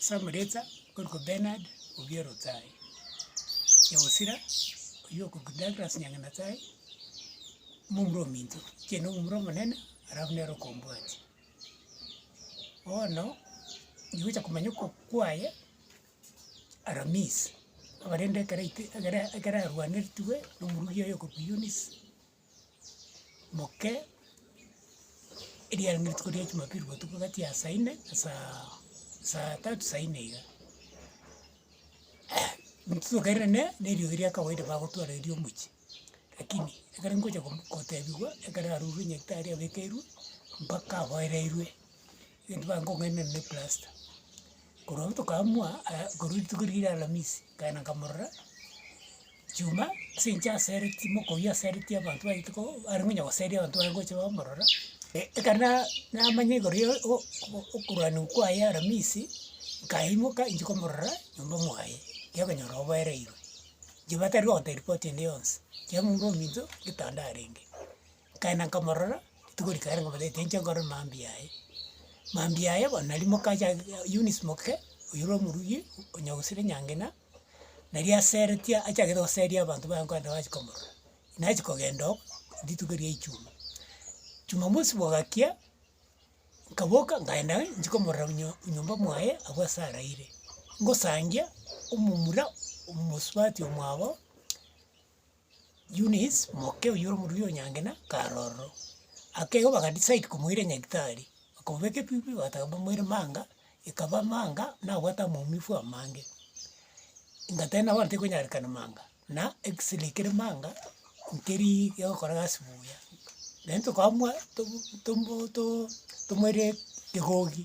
Samuletsa okorokwa Benard Obierotaai, Yahosira oyio okorokwa Douglas Nyangenataai, momura ominto, inche nomura omonene alafu nere okombwatia. Bono ngigocha komanya okoboko kwaye Aramisi, abarende ekero aite ekero ekero arwanetigwe na omorugi oye okorokwa Eunice. moke, eriarenge rituko ria jumapili botuko gati ya saa ine na saaaa saa tatu saa ine iga. Intwe tokairera ne neriogi ria kawaida bagotwara erio omochie, rakini ekero nkocha kom kotebiwa ekero arurwe nyagetari abekeirwe mpaka aboereirwe. Egento bakong'ainera ne plasta, korwa rituko tokamua aya korwa rituko riria ria alamisi, nkaenda nkamorora, chuma ase eng'encho asereti moka oyio asereti abanto baitu ko are ngonya goseri abanto bare gocha bamorora, ekero na namanya igoro ya o- o- okorwania okwo kwaye aramisi, nkaimoka inche komorora nyomba mwaye, ekiagera okonyora oboereirwe, inche batari gogotebi ripoti ende yonsi, ekiagera muna ominto ngetanda arenge. nkaenda nkamorora, rituko rikaira nkamotebi tinche nkore mambia aye, mambia aye bono nari moka acha Eunice Moke, oyore omorugi onya gosira enyangena, nari asere tia achagete goseria abanto baye nkwenda bache komorora. Nachi kogenda oo, rituko erio ria echuma, chumamosi bogakia, nkaboka nkaenda ng'a inche komorora nyio nyomba mwaye abwo ase araire, ngosangia omomura omosubati omwabo. Eunice, moke oyio ore omoruya o Nyangena, kare ororo. Akegoa baga decide komoira nyagitari, bakobeka ebibe bataka bamoire manga, ekaba manga nabwate amaumifu amange. Ngateba bono tekonyarekana manga, na x-ray kere manga, nkerii egokora egasi buya. Naende tokamwa tobu tomoto tomoire kegogi.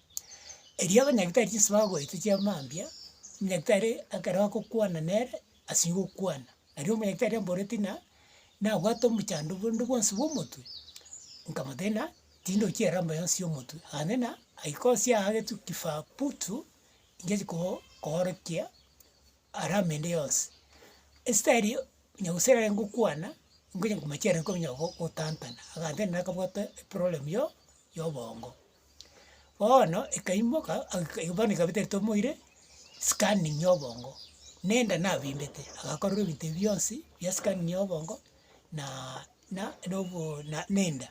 Erio abanyagitari chinse bagoeta chia mambia, nyagitari ekero agokwana nere, ase gokwana, aria omonyagitari amboreti ng'a nabwate omochando bonde bwonsi bwa omotwe, nkamotebia ng'a tindoki eramba yonsi ya omotwe, akantea ng'a aikosi aa agetwe kifaa putu, ngechi koo koorokia arama ende yonsi. Esitaeri onye gose ekero ngokwana, ngonye komochiera nkonya gotantana, agantebi nere akabwate eproblem yo- yobongo. Bono ekaimoka agika bono ekabete ritomoire, scanning ya obongo, na enda nabimbete, agakorora ebinto ebi bionsi bia scanning ya obongo naaaa na nobo na na enda.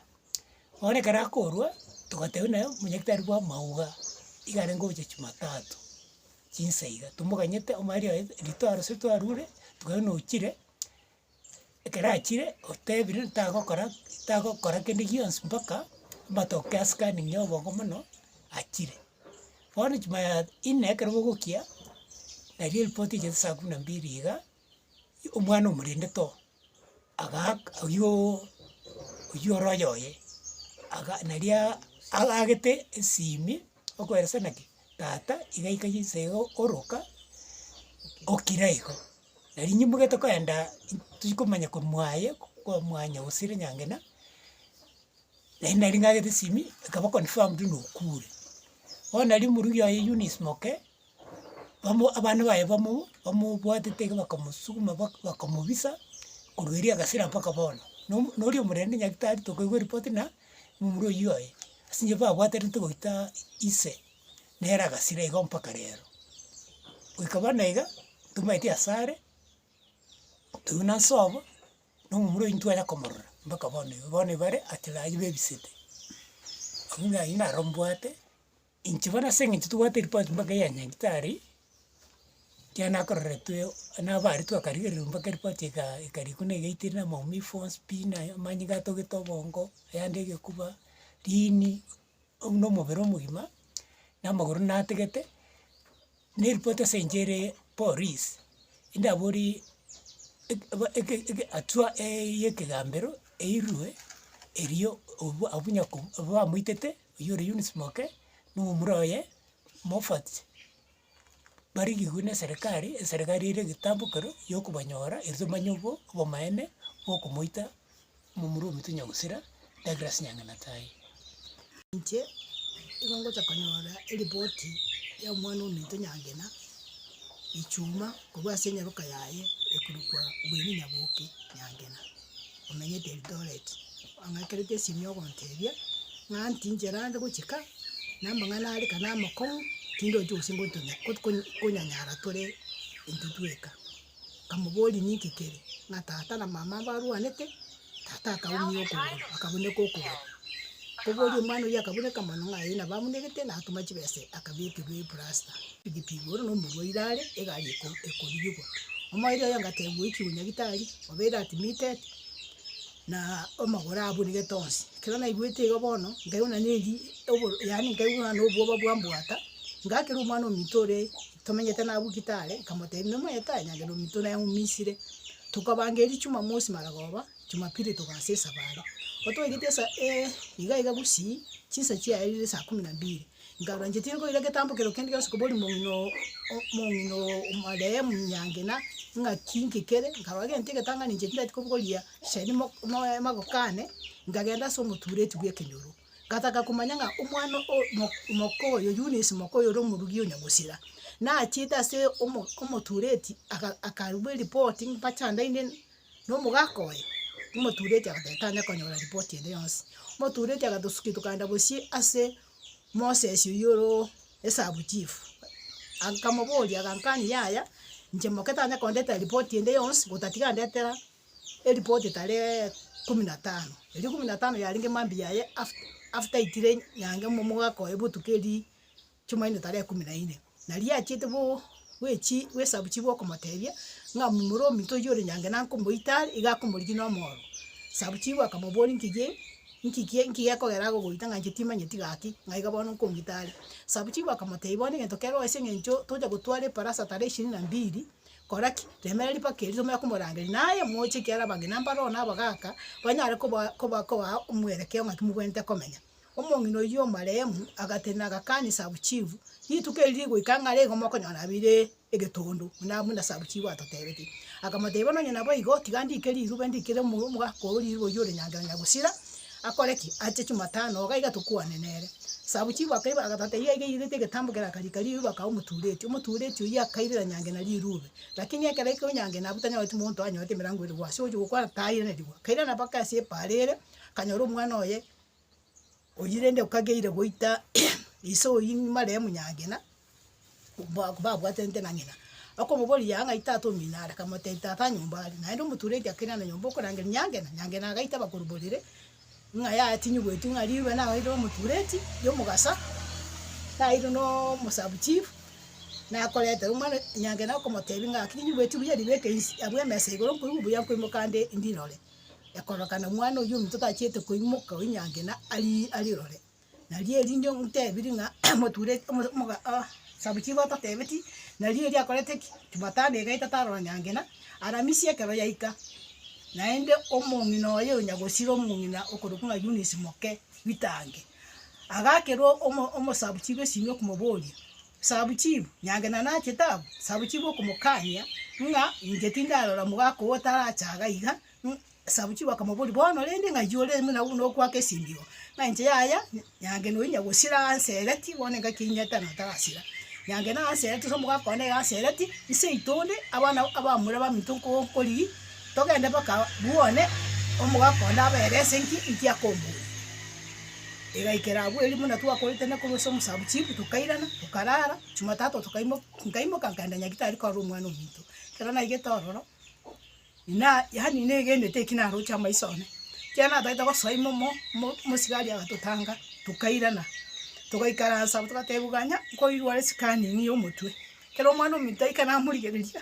Bono ekero akorwa, togateba naye omonyaktari bwa amauga, iga arenge ogocha jumatatu, chinsa iga, tomoganyete omari oye rituoro ase twarure, tokabera nochire. ekero achire otebire ntagokora tagokora kende gionsi mpaka amatoke asikaninge oboko mono achire. Bono chuma ya inee ekero bogokia, naria eripoti echete saa kumi na mbili iga, omwana omorende too agaak oyoooo oywo ore oyoye aga naria agagete esimi okoeresana ki tata iga aikaire inse iga oroka okira igo. Na rinyuma iga tokaenda tikomanya komua aye komua nyagusire nyangena, naende nari ng'agete esimi, ekaba confirmed buna okure. Bono nari omorugi oye Eunice Moke, bamo abana baye bamo bamobwatete iga bakamosuguma bak bakamobisa korwa erio agasira mpaka bono. Na omo na oria omorembe nyagete aritokeirwe ripoti na momura oyio oye, ase inche babwaterete goita ise. nere agasira igo mpaka rero. Goika bono iga, tomaeti asare, toigwe na nsobo, na omomura oyio ntitwanya komorora mpaka bono igo, bono ebare achire aywo bebisete. Abwo ng'a aywo naro mbwate, inche bono ase eng'encho tobwate ripoti mpaka ya nyagetari, ekiagera nakororetiwe nabaritwe akarigereria mpaka ripoti eka ekarikwa na egaitire na maumifu onsi pi naye amanyinga atogete obongo, ayande egekuba, riini. oyio na omobere omogima, na amagoro natigete, na eripoti ase inche ere poris, ndaborie eke aba eke eke hatua ya ekegambero eirwe erio obwa abwo nyoko bamoitete oywo ore Eunice Moke, na omura oye Mofat. barigigwe neserekari, eserekari ere egetambe ekero yokobanyora ere tomanye obo obomaene bokomoita momura ominto Nyagusira Douglas Nyanganata aye. Inche nigo ngocha konyora eripoti ya omwana ominto Nyangena Ichuma korwa ase enyaroka yaye ekorokwa Winnie Nyaboke Nyangena. omenyete Eldoret, ong'akerete esimi ogontebia, ng'a ntinche naende gochia ka, na amang'ana are ka namokong'u, tindochi gose ngotonya got kony konyanyara tore intwe tweka. Nkamoboria ninki kere, ng'a tata na mama mbarwanete, tata akaumia okogoro, akabuneka okogoro. Nkoboria omwana oyio akabuneka mono ng'a eh nabo abunekete, natoma chibesa akabekirwa eplasta. Egebigo ore nomorwaire are, egari ekorigigwa. Omoerio oye ngatebiwa oikigwe nyagitari, obe ere admitted, na amagoro aburigete onsi. Ekero naigwete igo bono, nkaigwa nonya eri oboro yaani nkaigwa nonya obwoba bwambwata, ngakera omwana ominto ore tomenyete naye abwo gitari, nkamotebia nomoete aye nyagera ominto naye ng'umisire, tokabanga eria jumamosi maragoba, jumapili togasa esabari. Otwaigete esa iga iga gosii, chinsa chiaye rire saa kumi na mbili, Nkarora inche tinkoira egetambo keria kende gionsi koba ore omong'ina oo omong'ina oo omoree omonyangena, ng'aki inki kere, nkarora gento egetang'ani inche tindati kobogoria sheri mo moe magoko ane, nkagenda ase omotureti bw'ekenyoro, ngataka komanya ng'a omwana oo mo moka oyo Eunice moka oyo ore omorugi o Nyamosira, nachiete ase omo omotureti aka akarua eripoti mpache andainene. na omogaka oye, omotureti agoteba tanya konyora ripoti ende yonsi, omotureti agatosukia tokaenda gosii ase Moses oywo oro esabu chief, akamoboria agankani yaya inche moke tanya kondetera ripoti ende yonsi gotatiga ndetera eripoti tarehe kumi na tano, erio kumi na tano yarenge mambia yaye after after aitire nyange mo- mogaka oye botuko erii. Chimaino tara ekumi na ine, na riachete bo bwechi bw'esabu chibwe okomotebia, ng'a momura ominto oyio ore nyange na nkomoita are, iga akomorigia nomooro. Esabu chibwe akamoboria, Nkigie, nkigie, nkigie ekogera agogoita ng'a inche timanyeti gaki, ng'a iga bono nkomoita are? Esabu chibwe akamotebia, Bono egento kere oise eng'encho tocha gotwara eparasa tara ishirini na mbili, kora ki? Remera ripaka erio tomanye komorangeria, naye moche ekiara abang'ina mbaro na abagaka, banyare koba koba kobaa omwerekeo ng'aki mobwenerete komenya. Omong'ina oyio omoreemu agatenena agakania Sabuchifu, Rituko eri rigoika ng'a reigo mokonyora abire egetondo, buna buna Sabuchifu atotebetie. Akamotebia, Nonye naboigo, tiga ndiike rirube ndikere omogaka oo rirube oyio ore Nyangero Nyagusira, akore ki? Ache Chumatano, iga iga tokwane nere. Sabuchifu akaigwa agatata iga iga airete egetambo kere akarika rirube akaba omotureti. Omotureti oyio akairera Nyangena rirube. Lakini ekero ekio Nyangena abwo tanyoreti monto oranyorete emerango ere gwase ogochia gokwana, tairanerigwa. Akairana mpaka ase epaara ere, akanyora omwana oye Oyio rende okageire goita ise oyio nyuma ere omunyangina, ba- babwatanete na ng'ina, akomoboria yaya ng'ai tata omino are, akamotebia tata nyomba are, naende omotura eria kere ande nyomba okorangeria nyangena, nyangena agaita bakuru borere, ng'a yaya tinyigweti ng'a rirwe nabeire omotureti ria omogasa, nabeire na omosabu chief, nakoretera omwana nyangena akomotebia ng'aki ninyigweti buya ribeke inse abwo emesa igoro nkoigwe buya nkoimoka nde ndirore. ekorokana omwana oyio ominto tachiete koimoka oinyange na ari- arirore. Nario erinde ontebiri ng'a moture omo- omoga ah sabu chigo otatebeti, nario erio akorete ki? Jumatano iga etata aroro nyange na aramisi ekero yaika, naende omong'ina oye oyo nyagosira omong'ina okorokwa ng'a Eunice moke, Witange, agakerwa omo- omosabuchi bw'esimi okomoboria, Sabuchibu, nyange na nachete abwo, Sabuchibu okomokania ng'a inche tindarora mogaka oo otarache iga iga, Sabuchibu akamoboria, bono rende ng'ai ore buna buna okwaka esindibo, ng'a inche yaya nyange nonya na gosira anse ereti, bono engaki enyete na otarasira, nyange na anse ereti, gose omogaka one anse ereti, nseito onde, abana abamura baminto nko nkorigia. Togende mpaka bwone, omogaka onde abe ere ase inki, inki akombuuria. Igaikera abwo erio buna twakoetania korwa ase omosabuchifu, tokairana, tokarara. Jumatatu tokaimoka, nkaimoka nkagenda Nyagetari korora omwana omonto. Ekero naigete ororo, inaa yaani negenete eki naroche amaiso one. Ekero natagete gosoa ime omo, mo mosigari agatotanga, tokairana, togaikaransa abwo togateba iga ng'a nkoirwara esikaningi ya omotwe. Ekero omwana ominto aika namorigereria.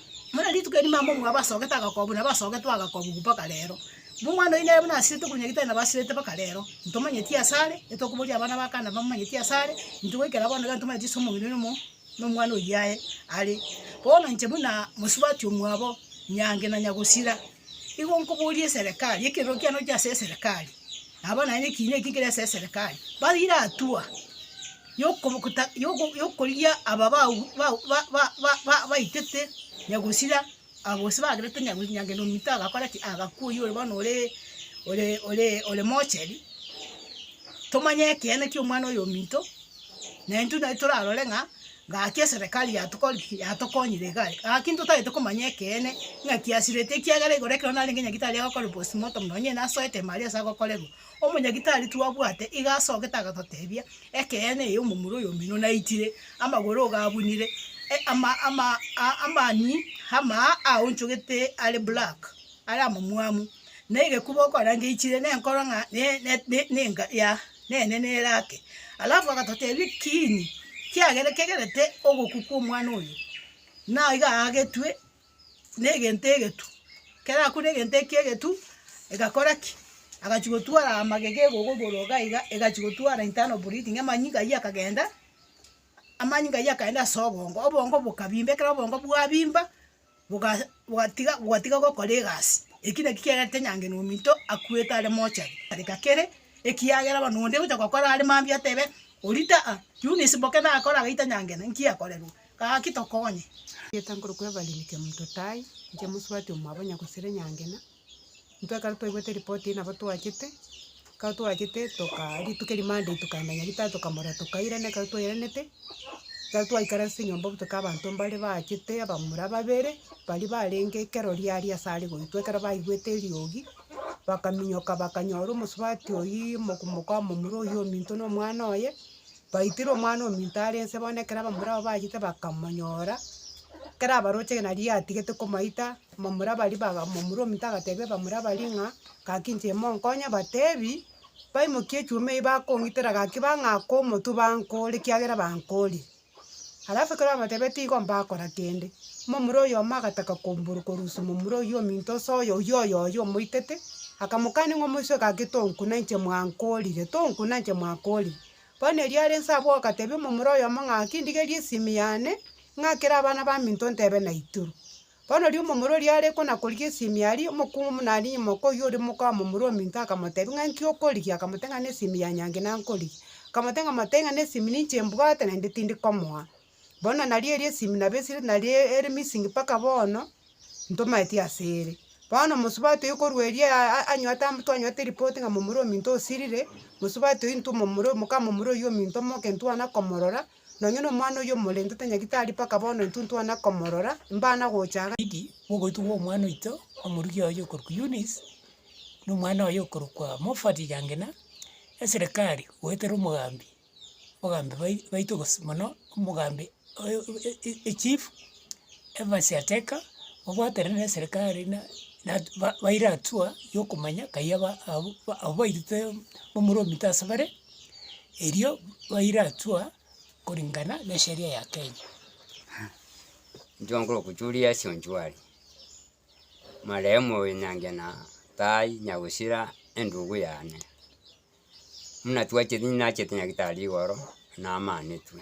Buna rituko erimo amo omwabo asogete agakobu, nabo asogetwe agakobu mpaka rero. Nomwana oyio nere buna asirete korwa nyagitari nabo asirete mpaka rero. Ntomanyeti ase are, etokoboria abana ba Kana bamomanyeti ase are, intwe goikera bono iga ntomanyeti ase omong'ina oino omo na omwana oyio aye are. Bono inche buna mosubati omwabo, nyange na nyagosira, igo nkoboria eserekari, ekerero kiane oche ase eserekari, nabo naye nekiina ekio nkere ase eserekari. Barire atua. y'okorigia aba baitete nyagusira, gose bagerete nyagenwa ominto agakora ki? Agakwa oyio ore bono ore mocheri, tomanye ekeene kia omwana oyo ominto, na intwe nari torarore ng'a gaki eserekari yatokorire ki? Yatokonyire iga are. Gaki intwe totagete komanya ekeene ng'aki asirete ekiagera igoro ekero narenge nyagitari agokora postmortem nonye oyio nasoete ime aria ase agokorerwa. Omonyagitari twabwate iga asogete agatotebia, Ekeene eye omomura oyo omino naitire, amagoro iga abunire, amani amaa aonchogete are black, are amamwamu, na egekuba okorange aichire, nenkoro ng'a nenga ya nene nere ake. Alafu agatotebia, Kiini kiagere kegerete ogokwa kwa omwana oyo? Naiga aagetwe. negento egetu, ekero arakure egento eki egetu, egakora ki? Agachia gotwara amagega egogo igoro iga iga, egachia gotwara internal bleeding amanyinga aywo akagenda, amanyinga aywo akagenda ase obongo, obongo bokabimba, ekero obongo bwabimba, boga bogatiga bogatiga gokora egasi, ekio nakio kiagerete nyange na ominto akwete are mortuary tareka kere, ekiagera bono onde ogocha gokora are mambia atebe, orita aa, Eunice boke nakora agaita nyangena, nki akorerwa? Gaki tokonye. Ngeta nkoro kwebariri ke mto Tai, nche mosubati omwabo Nyagusire Nyangena. Intwe ekero twaigwete report eye nabo twachete, ekero twachete toka rituko eri Monday tokaenda Nyaritari tokamorora tokairana ekero twairanete, ekero twaikara ase enyomba obotuko abanto mbare bachete abamura babere, baria barenge ekero ria aria ase are goitwa ekero baigwete eriogi, bakaminyoka bakanyora omosubati oyio moku moka momura oyio ominto na omwana oye, Baitire omwana ominto are inse bono ekero abamura abwo bachete bakamonyora, ekero abaroche nari atigete komoita, abamura baria baga omomura ominto agatebia abamura baria ng'a gaki inche monkonye batebi, baimokie echuma eyio bakong'itera gaki bang'ake omotwe bankore ekiagera bankoria. Alafu ekero bamotebia tigo mbakora kende, momura oyomo agataka komboro korusia omomura oyio ominto ase oyo oyio oyoyio omoitete, akamokani ng'a omoiseke gaki tonkuna inche mwankorire, tonkuna inche mwankorire. Bono erio are inse abwo ogatebia omomura oyomo ng'a ki ndigerie esimi yane, ng'akere abana baminto ntebe naituru. Bono riria omomura oria are kona korigia esimi aria, omokungu buna aria nyuma oka oyio oria omoka wa momura ominto akamotebia ng'a nki okorigia? Akamotebia ng'a nesimi ya Nyangi nankorigia. Akamotebia ng'a motebie ng'a nesimi ninche mbwate naende tindi komoa. Bono nario erio esimi nabo esire nari ere missing mpaka bono, ntomaeti asere. Bono omosubati oyio korwa erio anywete am- twanywete eripoti ng'a momura ominto osirire, mosubati oyio intwe momura moka momura oyio ominto moke ntwana komorora, nonye na omwana oyio omorentete nyagitari mpaka bono intwe ntwana komorora, mbana gocha iga. Idi, mogoitwa gwa omwana oito omoruki oye okorokwa Eunice, na omwana oye okorokwa Moffat Gangina, eserekari goetera omogambi. ogambi bai baito gose mono, omogambi oyo e- e- echief, emasiateka, obwatere na eserikari na natu ba baira hatua ya okomanya kai aba abwo ba abwo bairete omoro omito ase bare, erio baira hatua koringana na esheria ya kenya. Intwe nkoro okuchuria ase onchware, marehemu oyo nyange na tai nyagusira endugu yane. buna twacheti ninacheti nyagetari igoro, namanetwe.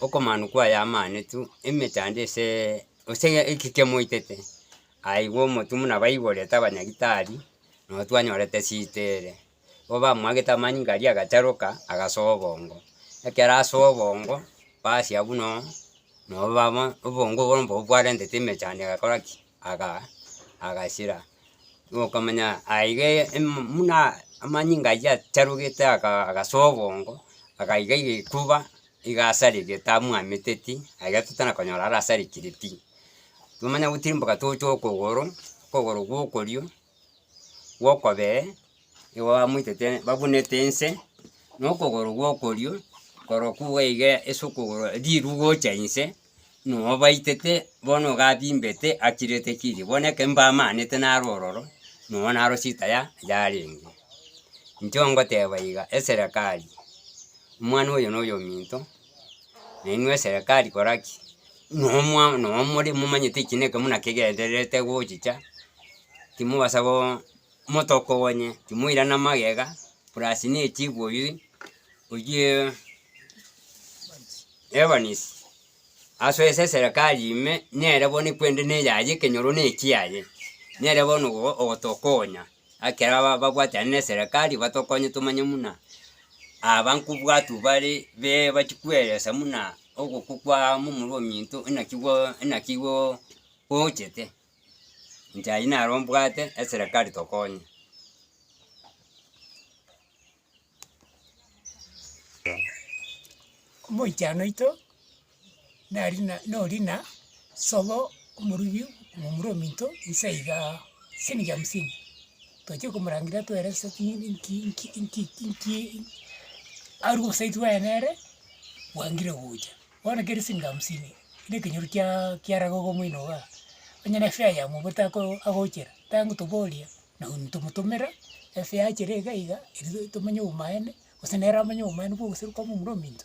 Okomanwa kwaye amanetwe, emechando eseee gose eki kemoitete, aigwe omotwe buna baigorete abanyagitari, nabo twanyorete esita ere. Igo bamwagete amanyinga aria agacharoka, agasoa obongo. Ekero asoa obongo, basi abwo no, nabo baba obongo obwo mbogo bwarentete emechando egakora ki. aga agachira, nokamanya aiga eye emum muna amanyinga aywo acharogete aka agasoa obongo, agaiga egetuba iga asarigete tamwameteti, aiga totana konyora arasarigeti pi, nomanya gotirimboka tocha okogoro, okogoro gwa okorio, gwa okobee. nigo bamoitete babunete inse, na okogoro gw'okorio korokwo iga ase okogoro riru gocha inse, nigo obaitete bono iga abimbete achirete kirii, bono ekero mbaamanete naro ororo, nigo naro shida ya yarenge. Inchuo ngoteba iga, eserekari, omwana oyo na oyo ominto, na inwe eserekari kora ki? Nomwa nomore momanyete ekina eke buna kegendererete gochicha, timobasa goo. Omotoko oonye timoirana magega, purasi ne etibu oyio oyie Evans asoe ase eserekari ime nere bono ekwende ne eyaye ekenyoro ne ekiaye. Nere bono ogo ogotokonya ekero aba babwatane ne eserekari batokonye tomanye muna aba nkobwatu bare be bachia koeresa muna ogokwa kwa momura ominto inaki gwa inaki goo gochete. njai naro mbwate eserekari tokonye. Omoichano oito nari na nori na sobo omorubi momura ominto nse igaa siringi hamsini, tochia komorangeria twere se ching'iti nki nki nki nki nki arwe gose aitwe aye nere bwangire gocha. Bono keri siringi hamsini, na ekenyoro kiaa kiaraga iga omino igaa, onye ne fare ya mogote ako agochera, tangotoboria na un tomotomera efare achire iga iga, erio tomenye obomaene, gose nere amenye obomaene bwa ogoseroka momura ominto.